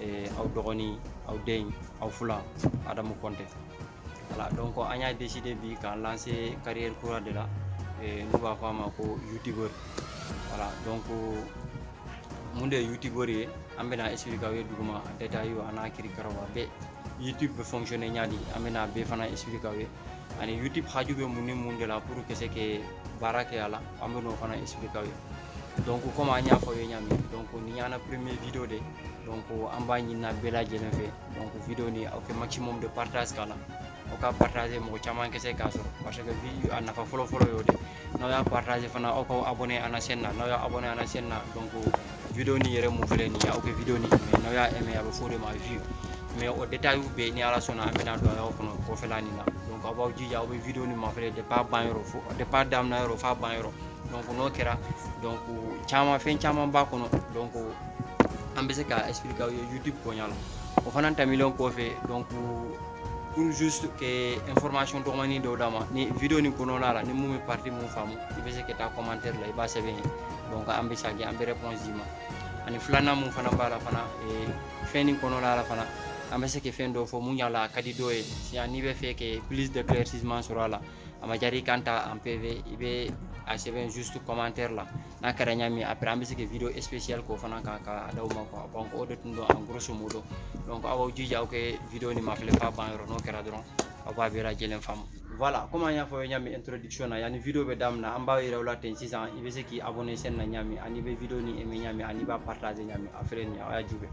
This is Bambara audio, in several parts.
eh, aw dɔgɔnin aw den aw fula adamu kɔnte voilà donc an y'a décidé bi k'an lancer carrière kura de la eh, n'u b'a fɔ a ma ko youtubeur voilà donc mun de ye youtubeur ye an bɛna expliquer aw ye duguma a détailw a n'a kirikaraw a bɛɛ youtube bɛ fonctionner ɲadi an bɛna a bɛɛ fana expliquer aw ye ani youtube haju bɛ mun ni mun de la pour ka se ka baara kɛ a la an bɛn'o fana expliquer aw ye donc comme an y'a fɔ aw ye ɲami donc ni y'an na premier video de donc an b'a ɲini aw bɛɛ lajɛlen fɛ donc video ni aw kɛ maximum de partage k'a la aw k'a partager mɔgɔ caman kɛ se k'a sɔrɔ parce que vi a nafa fɔlɔ fɔlɔ y'o de n'aw y'a partager fana aw k'aw abonné an na chaîne na n'aw y'aw abonné an na chaîne na donc video ni yɛrɛ mun filɛ nin ye aw kɛ video ni aimé n'aw y'a aimé a bɛ f'o de ma view mais o détailw bɛɛ ni ala sɔnna an bɛna don a y'aw kɔnɔ kɔfɛla nin na donc aw b'aw jija aw bɛ video ni mafɛlɛ depuis a ban yɔrɔ fo depuis a daminɛ yɔrɔ f'a ban yɔrɔ n'o kɛra caman fɛn caman b'a kɔnɔ an bɛ se ka aw ye yiri bonya la o fana tɛmɛnen kɔfɛ dɔgɔnin dɔw d'a ma ni ni kɔnɔna la ni mun bɛ mun faamu i bɛ se ka taa la i b'a sɛbɛn yen an bɛ se kɛ an bɛ d'i ma ani filanan mun fana b'a la fana fɛn nin kɔnɔna la fana an bɛ se ka fɛn dɔw fɔ mun y'a la a ka di dɔw ye n'i bɛ fɛ kɛ sɔrɔ a la a ma jari k'an ta en pv i bɛ a sɛbɛn juste commentaire la n'a kɛra ɲa min après an bɛ se ka video spécial k'o fana kan ka a d'aw ma quoi donc o de tun don en grosso modo donc aw b'aw jija aw kɛ video ni mafilɛ f'a ban yɔrɔ n'o kɛra dɔrɔn aw b'a bɛɛ lajɛlen faamu voilà comme an y'a fɔ ɲa min introduction na yanni video bɛ daminɛ an b'a yira aw la ten sisan i bɛ se k'i abonné chaîne na ɲa min ani i bɛ video ni aimé ɲa min ani i b'a partager ɲa min après n'aw y'a jubɛ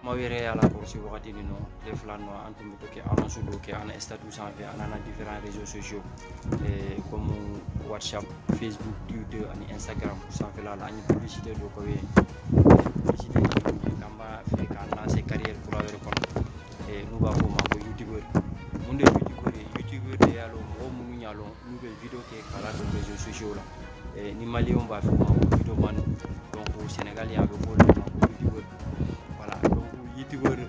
maaw yɛrɛ y'a lakɔlɔsi wagati min na tile fila nin kɔnɔ an tun bɛ to kɛ annonce dɔw kɛ an na statutw sanfɛ an na différents réseaux sociaux eh, comme whatsapp facebook twitter ani instagram sanfɛla la an ye publicité dɔ k'o ye publicité k'an b'a fɛ k'an lancer carrière kura wɛrɛ kɔnɔ eh, n'u b'a fɔ o ma ko youtubeur mun de ye youtubeur ye youtubeur de y'a lɔn mɔgɔ minnu y'a lɔn N'u bɛ video kɛ k'a ladon réseaux sociaux la eh, ni maliyɛnw b'a fɔ u ma ko video man donc Sénégal a bɛ fɔ olu ma ko youtubeur voilà donc youtubeur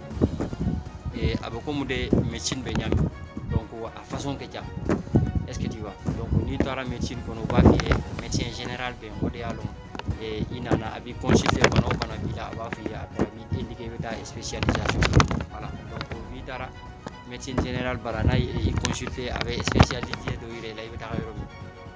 eh, a bɛ komi de médecine bɛ ɲami donc a façon ka ca est ce que tu vois donc n'i taara médecine kɔnɔ u b'a f'i ye médecin général bɛ yen o de y'a lɔn eh, i nana a b'i consulter bana o bana b'i la a b'a f'i ye a b'i indiquer i bɛ taa spécialisation voilà donc n'i taara médecine générale bara n'a y'i consulté a bɛ spécialité dɔ yira i la i bɛ taga yɔrɔ min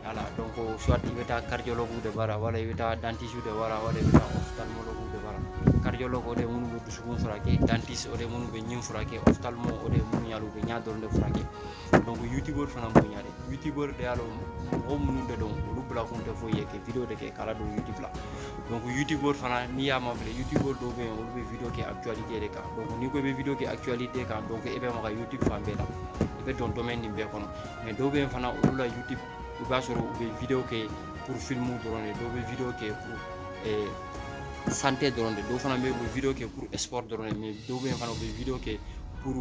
voilà donc soit i bɛ taa cardiologue de bara wala i bɛ taa dentiste de bara wala i bɛ taa ophtalmologue de bara cardiologue o de ye minnu bɛ dusukun furakɛ dentiste o de ye minnu bɛ ɲin furakɛ ophtalmo o de ye minnu y'a lɔn u bɛ ɲɛ dɔrɔn de furakɛ donc youtubeur fana b'o ɲa de youtubeur de y'a lɔn mɔgɔ minnu de don olu bilakun tɛ foyi ye que video de kɛ k'a ladon youtube la donc youtubeur fana n'i y'a mafilɛ youtubeur dɔw bɛ yen olu bɛ video kɛ actualité de kan donc n'i ko i bɛ video kɛ actualité kan donc e bɛ maga youtube fan bɛɛ la i bɛ don domaine nin bɛɛ kɔnɔ mais dɔw bɛ yen fana olu la youtube i b'a sɔrɔ u bɛ video kɛ pour film dɔrɔn de dɔw bɛ video kɛ pour eh, santé dɔrɔn de dɔw fana bɛ yen u bɛ video kɛ pour sport dɔrɔn de mais dɔw bɛ yen fana u bɛ video kɛ pour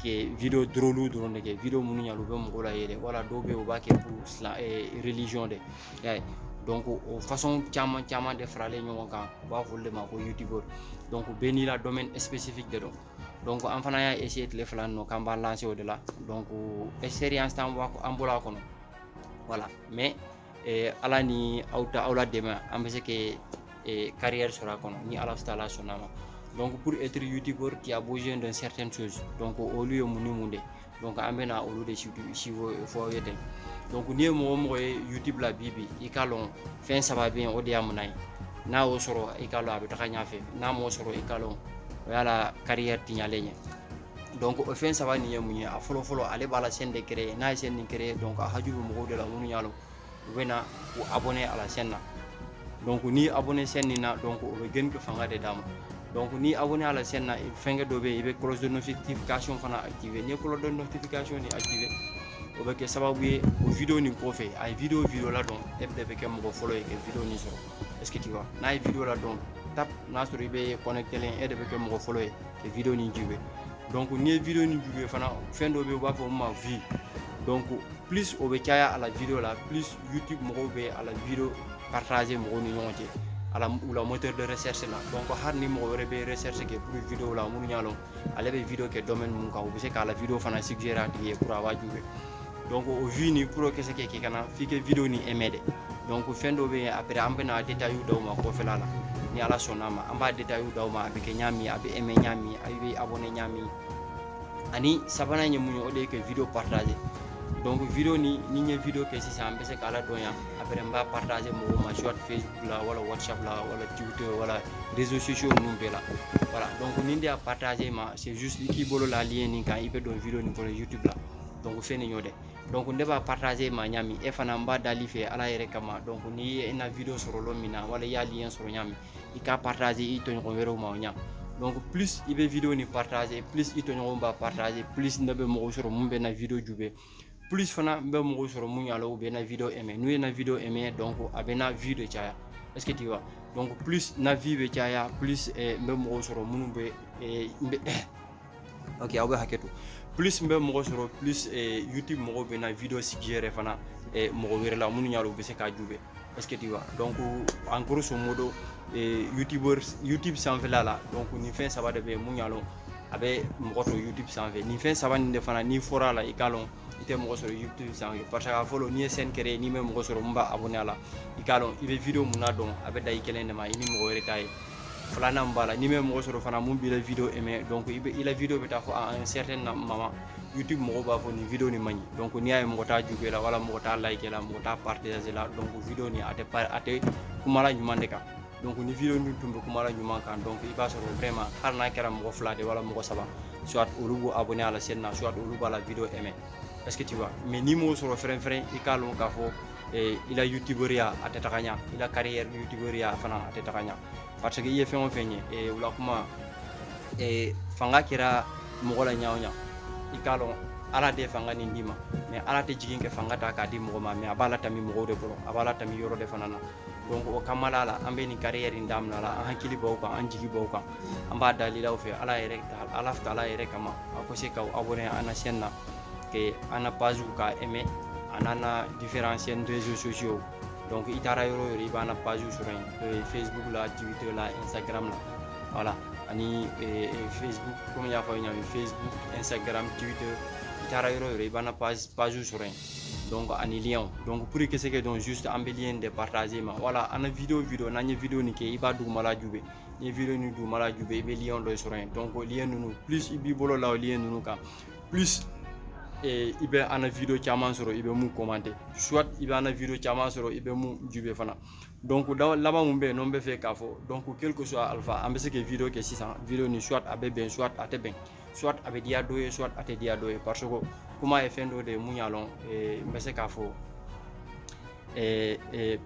kɛ video drôlew dɔrɔn de kɛ video minnu ɲa u bɛ mɔgɔw layɛlɛ wala dɔw bɛ yen u b'a kɛ pour silamɛ eh, religion de y'a ye donc o façon caman caman de faralen ɲɔgɔn kan u b'a fɔ o de ma ko youtubeur donc bɛɛ n'i la domaine spécifique de don donc an fana y'a essayer tile fila ninnu k'an b'a lancer o de la donc expérience t'an bɔ an bolo a kɔnɔ voilà mais eh, ala ni aw ta aw la dɛmɛ an bɛ se ka eh, carrière sɔrɔ a kɔnɔ ni ala taala sɔnna a ma donc pour être youtubeur qui a besoin d'un certain chose donc olu ye mun ni mun de ye donc an bɛna olu de siw fɔ aw ye ten donc n'i ye mɔgɔ o mɔgɔ ye youtube la bi bi i k'a lɔn fɛn saba bɛ yen o de y'a muna ye n'a y'o sɔrɔ i k'a lɔn a bɛ taga ɲɛfɛ n'a m'o sɔrɔ i k'a lɔn o y'a la carrière tiɲalen ye donc o fɛn saba nin ye mun ye a fɔlɔ fɔlɔ ale b'a la chaîne de créer n'a ye chaîne nin créer donc a haju bɛ mɔgɔw de la minnu y'a lɔn u bɛ na u abonné a la chaîne na donc n'i abonné chaîne nin na donc o bɛ geni kɛ fanga de d'a ma donc n'i abonné a la chaîne na fɛnkɛ dɔ bɛ yen i bɛ cloche de notification fana activer n'i ye cloche de notification nin activer o bɛ kɛ sababu ye o video nin kɔfɛ a ye video o video ladon e de bɛ kɛ mɔgɔ fɔlɔ ye ka video nin sɔrɔ est ce que tu vois n'a ye video ladon tap n'a sɔrɔ i bɛ connectélen e de bɛ kɛ mɔgɔ fɔlɔ ye ka video nin jibe donc n'i ye video nin jube fana fɛn dɔ bɛ yen u b'a fɔ min ma vue donc plus o bɛ caya a la video la plus youtube mɔgɔw bɛ a la video partager mɔgɔw ni ɲɔgɔn cɛ a la u la moteur de recherche la donc hali ni mɔgɔ wɛrɛ bɛ recherche kɛ pour video la minnu y'a lɔn ale bɛ video kɛ domaine min kan u bɛ se k'a la video fana suggérer a tigi ye pour a b'a jube donc o vue nin pour o ka se ka kɛ ka na f'i ka vidéo nin aimer de donc fɛn dɔ bɛ yen après an bɛna détail d'aw ma kɔfɛla la ni ala sɔnna a ma an b'a détail d'aw ma a bɛ kɛ ɲa min a bɛ aimé ɲa min a bɛ abonné ɲa min ani sabanan ye mun ye o de ye ka vidéo partager donc vidéo nin ni n ye vidéo kɛ sisan an bɛ se k'a ladon yan après n b'a partager mɔgɔw ma soit facebook la wala whatsapp la wala twitter wala réseaux sociaux ninnu bɛɛ la voilà donc ni ne y'a partager ma c'est juste i k'i bolo la lien nin kan i bɛ don vidéo nin kɔnɔ youtube la donc fɛn nin y'o dɛ donc ne b'a partager ma ɲa min e fana n b'a dali fɛ ala yɛrɛ kama donc n'i ye na video sɔrɔ lɔ min na wala i y'a lien sɔrɔ ɲa min i k'a partager i tɔɲɔgɔn wɛrɛw ma o ɲa donc plus i bɛ video nin partager plus i tɔɲɔgɔnw b'a partager plus ne bɛ mɔgɔw sɔrɔ mun bɛ na video jube plus fana n bɛ mɔgɔw sɔrɔ mun y'a lɔn u bɛ na video aimé n'u ye na video aimé donc a bɛ na vue de caya est ce que tu vois donc plus na vue bɛ caya plus n bɛ mɔgɔw sɔrɔ minnu bɛ n bɛ ok aw bɛ hakɛ to plus n bɛ mɔgɔ sɔrɔ plus eh, youtube mɔgɔw bɛ na video suggérer fana eh, mɔgɔ wɛrɛ la minnu y'a lɔn u bɛ se k'a jube est ce que tu vois donc en grosso modo eh, youtubers youtube sanfɛla la donc nin fɛn saba de bɛ yen mun y'a lɔn a bɛ mɔgɔ to youtube sanfɛ nin fɛn saba nin de fana n'i fɔra a la i k'a lɔn i tɛ mɔgɔ sɔrɔ youtube sanfɛ parce que a fɔlɔ n'i ye chaîne créer n'i ma mɔgɔ sɔrɔ mun b'a abonné a la i k'a lɔn i bɛ video mun ladon a bɛ dan i kelen de ma i ni mɔgɔ wɛrɛ t'a ye filanan min b'a la n'i ma mɔgɔ sɔrɔ fana mun b'i la video aimé donc i bɛ i la video bɛ taa fo à un certain moment youtube mɔgɔw b'a fɔ nin video nin man ɲi donc n'i y'a ye mɔgɔ t'a jube la wala mɔgɔ t'a like la mɔgɔ t'a partager la donc video nin a tɛ a tɛ kumala ɲuman de kan donc ni video min tun bɛ kuma la ɲuman kan donc i b'a sɔrɔ vraiment hali n'a kɛra mɔgɔ fila de wala mɔgɔ saba soit olu b'u abonné a la chaîne na soit olu b'a la video aimé est ce que tu vois mais n'i m'o sɔrɔ fɛrɛn fɛrɛn i k'a lɔn k'a fɔ eh, i la youtuberiya a tɛ taga ɲa i la carrière youtuberiya fana a tɛ taga ɲa parce que i ye fɛn o fɛn ye eh, o la kuma eh, fanga kɛra mɔgɔ la ɲa o ɲa i k'a lɔn ala de fanga nin d'i ma mais ala tɛ jigin ka fanga ta k'a di mɔgɔ ma mais a b'a latami mɔgɔw de kɔrɔ a b'a latami yɔrɔ de fana na donc o kamala la an bɛ nin carrière in daminɛ la an hakili b'aw kan an jigi b'aw kan an b'a dalila aw fɛ ala yɛrɛ ala taala yɛrɛ kama a ko se ka abonné an na chaîne na que an na pagew ka aimé an n'an na différents chaînes réseaux sociaux donc i taara yɔrɔ o yɔrɔ i b'an na pagew sɔrɔ yen n'o ye facebook la twitter la instagram la voilà ani eh, eh, facebook komi n y'a fɔ aw ye ɲa min facebook instagram twitter i taara yɔrɔ o yɔrɔ i b'an na pagew sɔrɔ yen donc ani lienw donc pour ka se k'a dɔn juste an bɛ lien de partager ma voilà an na video video n'an ye video nin kɛ i b'a dugumala jube n'i ye video nin dugumala jube i bɛ lien dɔ sɔrɔ yen donc lien ninnu plus i b'i bolo la o lien ninnu kan plus eh, i bɛ an na video caman sɔrɔ i bɛ mun commenter soit i bɛ an na video caman sɔrɔ i bɛ mun jube fana donc laban mun bɛ yen n'o bɛ fɛ k'a fɔ donc quelque soit alpha an bɛ se ka video kɛ sisan video nin soit a bɛ bɛn soit a tɛ bɛn soit a bɛ diya dɔ ye soit a tɛ diya dɔ ye parce que kuma ye fɛn dɔ de ye mun y'a lɔn n bɛ se k'a fɔ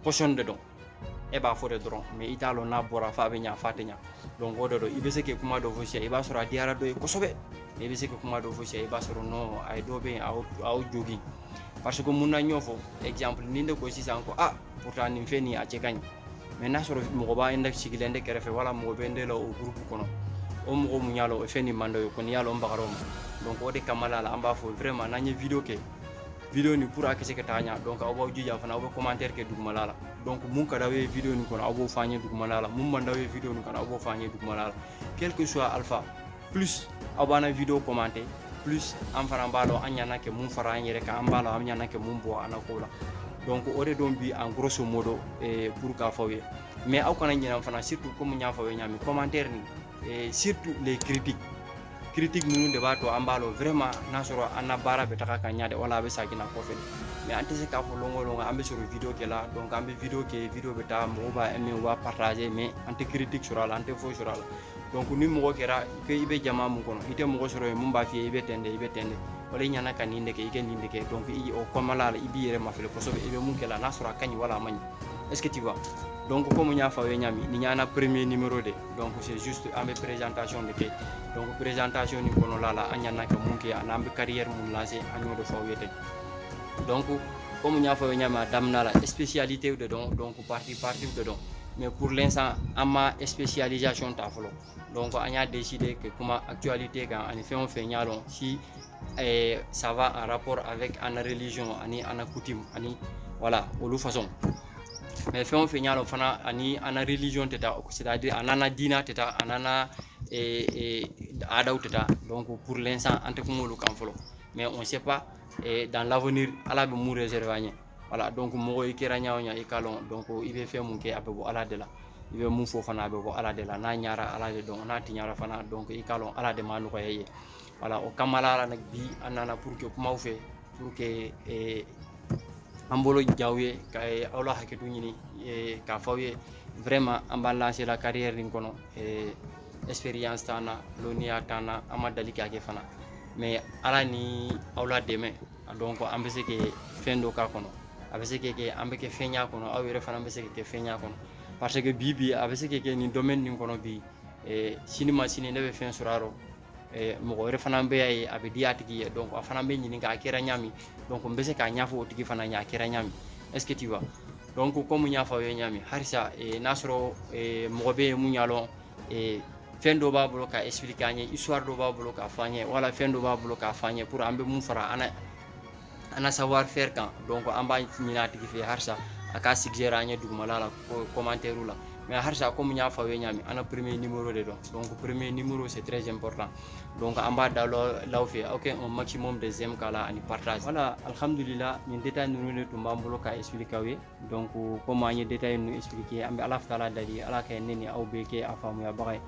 poison de don e b'a fɔ de dɔrɔn mais i t'a lɔn n'a bɔra f'a bɛ ɲa f'a tɛ ɲa donc o de don i bɛ se k'i kuma dɔ fɔ sisan i b'a sɔrɔ a diyara dɔ ye kosɛbɛ i bɛ se k'i kuma dɔ fɔ sisan i b'a sɔrɔ non a ye dɔ bɛ yen a y'o jogin parce que mun na n y'o fɔ exemple ni ne ko sisan ko aa pourtant nin fɛn nin a cɛ ka ɲi mais n'a sɔrɔ mɔgɔ b'a n sigilen de kɛrɛfɛ wala mɔgɔ bɛ n de la o groupe kɔnɔ o mɔgɔ mun y'a lɔn o fɛn nin man d'o ye kɔni y'a lɔn bagar'o ma donc o de kama la an b'a fɔ vraiment n'an ye video kɛ video nin pour a ka se ka taa ɲa donc aw b'aw jija fana aw bɛ commentaire kɛ dugumala la donc mun ka d'aw ye video nin kɔnɔ aw b'o fɔ an ye dugumala la mun man d'aw ye video nin kɔnɔ aw b'o fɔ an ye dugumala la quel que soit alpha plus aw b'an video commenter plus an fana b'a dɔn an ɲana ka mun fara an yɛrɛ kan an b'a dɔn an ɲana ka mun bɔ an na ko la donc o de don bi en grosso modo eh, pour k'a fɔ aw ye mais aw kana ɲinɛ fana surtout comme n y'a fɔ aw ye ɲami commentaire ni eh, surtout les critiques critique ninnu de b'a to an b'a dɔn vraiment n'a sɔrɔ an na baara bɛ taga ka ɲa de wala a bɛ sagina kɔfɛ mais an tɛ se k'a fɔ lon o lon ko an bɛ sɔrɔ video kɛ la donc an bɛ video kɛ video bɛ taa mɔgɔw b'a aimer u b'a partager mais an tɛ critique sɔrɔ a la an tɛ foyi sɔrɔ a la donc ni mɔgɔ kɛra ko i bɛ jama mun kɔnɔ i tɛ mɔgɔ sɔrɔ yen mun b'a f'i ye i bɛ ten de i bɛ ten de wala i ɲana ka nin de kɛ i ka nin de kɛ donc i o kɔnɔna la i b'i yɛrɛ mafili kosɛbɛ i bɛ mun kɛ la n'a sɔrɔ a ka ɲi wala a man ɲi est ce que tu vois donc comme n y'a fɔ aw ye ɲami nin y'an na premier numéro de donc c'est juste an bɛ présentation de kɛ donc présentation nin kɔnɔla la an ɲana ka mun kɛ ani an bɛ carrière mun lancer an y'o de fɔ aw ye ten donc comme n y'a fɔ aw ye ɲami a daminɛ la spécialité de don donc partie partie de don mais pour l'instant an ma spécialisation ta fɔlɔ donc an y'a décider ka kuma actualité kan ani fɛn o fɛn y'a lɔn si eh, ça va en rapport avec an na religion ani an na coutume ani voilà olu façon mais fɛn o fɛn y'a lɔn fana a ni an na religion tɛ taa c'est à dire a n'an na diina tɛ taa a n'an na eh, eh, aadaw tɛ taa donc pour l'instant an tɛ kuma olu kan fɔlɔ mais on sait pas eh, dans l'avenir ala bɛ mun réserver an ye voilà donc mɔgɔ i kɛra ɲa o ɲa i k'a lɔn donc i bɛ fɛn mun kɛ a bɛ bɔ ala de la i bɛ mun fɔ fana a bɛ bɔ ala de la n'a ɲara ala de don n'a tiɲara fana donc i k'a lɔn ala de m'a nɔgɔya i ye voilà o kama la bi an nana pour ka kum'aw fɛ pour que eh, an bolo jaw ye ka eh, aw la hakɛto ɲini eh, k'a fɔ aw ye vraiment an b'an lancer la carrière nin kɔnɔ eh, expérience t'an na lɔnniya t'an na an ma dali k'a kɛ fana mais ala ni aw la dɛmɛ donc an bɛ se ka fɛn dɔ k'a kɔnɔ a bɛ se ka kɛ an bɛ kɛ fɛn y'a kɔnɔ aw yɛrɛ fana bɛ se ka kɛ fɛn y'a kɔnɔ parce que bi bi a bɛ se ka kɛ nin domaine nin kɔnɔ bi eh, sini ma sini ne bɛ fɛn sɔrɔ a rɔ eh, mɔgɔ wɛrɛ fana b'a ye a bɛ di a tigi ye donc a fana bɛ ɲininka a kɛra ɲami donc n bɛ se k'a ɲɛfɔ o tigi fana ɲɛ a kɛra ɲami est ce que tu vois donc comme n y'a fɔ aw ye ɲami halisa eh, n'a sɔrɔ eh, mɔgɔ bɛ yen mun y'a lɔn ee fɛn dɔ b'a bolo k'a expliquer an ye histoire dɔ b'a bolo k'a fɔ an ye wala fɛn dɔ b'a bolo k'a fɔ an ye pour an bɛ mun fara an an na savoir faire kan donc an b'a ɲini a tigi fɛ halisa a k'a suggérer an ye dugumala la commentaire la mais halisa comme n y'a fɔ aw ye ɲami an na premier numéro de don donc premier numéro c'est très important donc an b'a dal'aw fɛ aw kɛ un maximum de j'aime k'a la ani partage voilà alhamdulillah nin détail ninnu de tun b'an bolo k'a expliquer aw ye donc comme an ye détail ninnu expliqué an bɛ alahu taala dali ala ka ne ni aw bɛɛ kɛ a faamuyabaga ye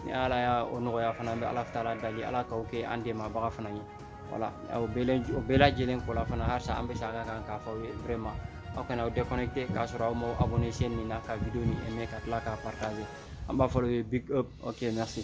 ni ala y'a o nɔgɔya fana an bɛ alahu taala dali ala k'aw kɛ an dɛmɛbaga fana ye voilà o bɛɛ lajɛlen kɔla fana halisa an bɛ sagin a kan k'a fɔ aw ye vraiment aw kana aw déconnecté k'a sɔrɔ aw ma abonné chaîne nin na ka video nin aimé ka tila k'a partager an b'a fɔ aw ye big up ok merci